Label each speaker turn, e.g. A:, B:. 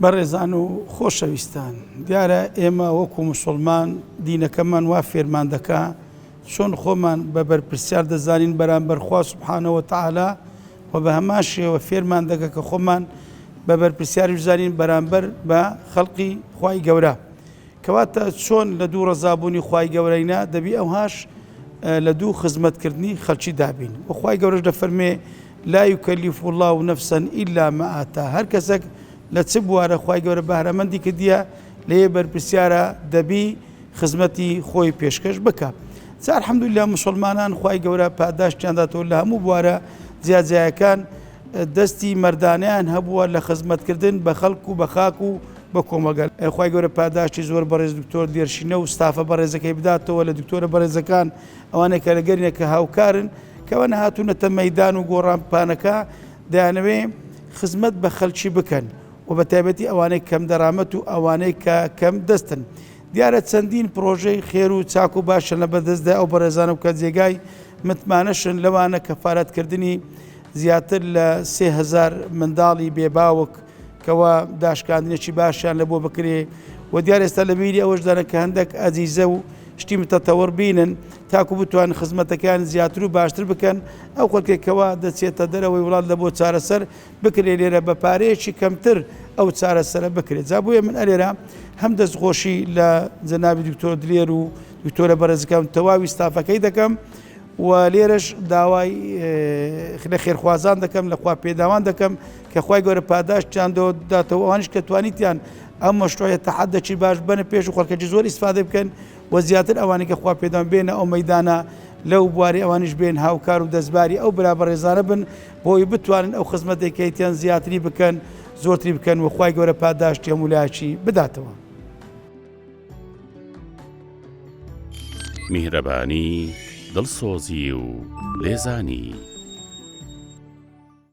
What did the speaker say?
A: بەڕێزان و خۆشەویستان، دیارە ئێمە وەکو موسڵمان دینەکەمان وا فێرمان دەکا چۆن خۆمان بە بەرپرسیار دەزانین بەرامبەر خوا سبحانە و تعالی و بە هەمان شێوە فێرمان دەکە کە خۆمان بە بەرپرسیاریش زانین بەرامبەر بە خەڵقی خوای گەورە کەواتە چۆن لە دوو ڕزابوونی خوای گەورەینا دەبی ئەوهاش لە دوو خزمەتکردنی خەلکی دابین وخوای گەورەش دەفەرمێ لا یکلف اللە نفسا الا ما آتاها هەر کەسەک لە چ بوارە خوای گەورە بەهرەمەندی کردیە لێێ بەرپرسیارە دەبی خزمەتی خۆی پێشکەش بکا جا الحمدللە موسڵمانان خوای گەورە پاداشتیان داتەوە لە هەموو بوارە جیا جیاکان دەستی مەردانەیان هەبووە لە خزمەت کردن بە خەڵک و بە خاک و بە کۆمەگە خوای گەورە پاداشتی زۆر بەڕێز دکتۆر دێرشینە و ستافە بەڕێزەکەی بداتەوە لە دکتۆرە بەڕێزەکان ئەوانەی کە لە گەرمیەکە هاوکارن کەوانە هاتوونەتە مەدان و گۆڕانپانەکە دەیانەوێ خزمەت بە خەلکی بکەن و بە تایبەتی ئەوانەی کەم دەرامەت و ئەوانەی کە کەم دەستن دیارە چەندین پرۆژەی خێر و چاک و باشە لە بەدەستدا ئەو بەڕێزانە و کە جێگای متمانەشن لەوانە کەفاەتکردنی زیاتر لە سهزار منداڵی بێباوک کەوا داشکاندنێکی باشیان لە بۆ بکرێ و دیار ئێستا لە بیری ئەوەش دەنە کە هەندێک ئەزیزە و شتی متەتەوەڕ بینن تاکو بتوان خزمەتەکان زیاتر و باشتر بکەن ئەو خەکێکەوە دەچێتە دەرەوەی وڵات لە بۆ چارەسەر بکرێ لێرە بە پارەیەکی کەمتر ئەو چارەسەرە بکرێت جا بۆیە من ئەلێرە هەم دەستخۆشی لە جەناوی دکتۆر دلێر و دکتۆرە بەرزەکەم تەواوی ستافەکەی دەکەم و لێرەش داوای لە خێرخوازان دەکەم لەخوا پێداوان دەکەم کە خوای گەورە پاداشتیان دۆ داتەوە ئەوانیش کە توانیتیان ئەم مەشروعە تەحەدەکی باش بەنە پێش و خەڵکەکی زۆر ئیسفادە بکەن و زیاتر ئەوانی کە خوا پێدان بێنە ئەو مەدانە لەو بواری ئەوانیش بێن هاوکار و دەستباری ئەو برا بەڕێزانە بن بۆی بتوانن ئەو خزمەتێکیتیان زیاتری بکەن زۆرتری بکەن و خی گەورە پاداشتی هەمولاکی بداتەوە.
B: میهرەبانی دڵسۆزی و لێزانی.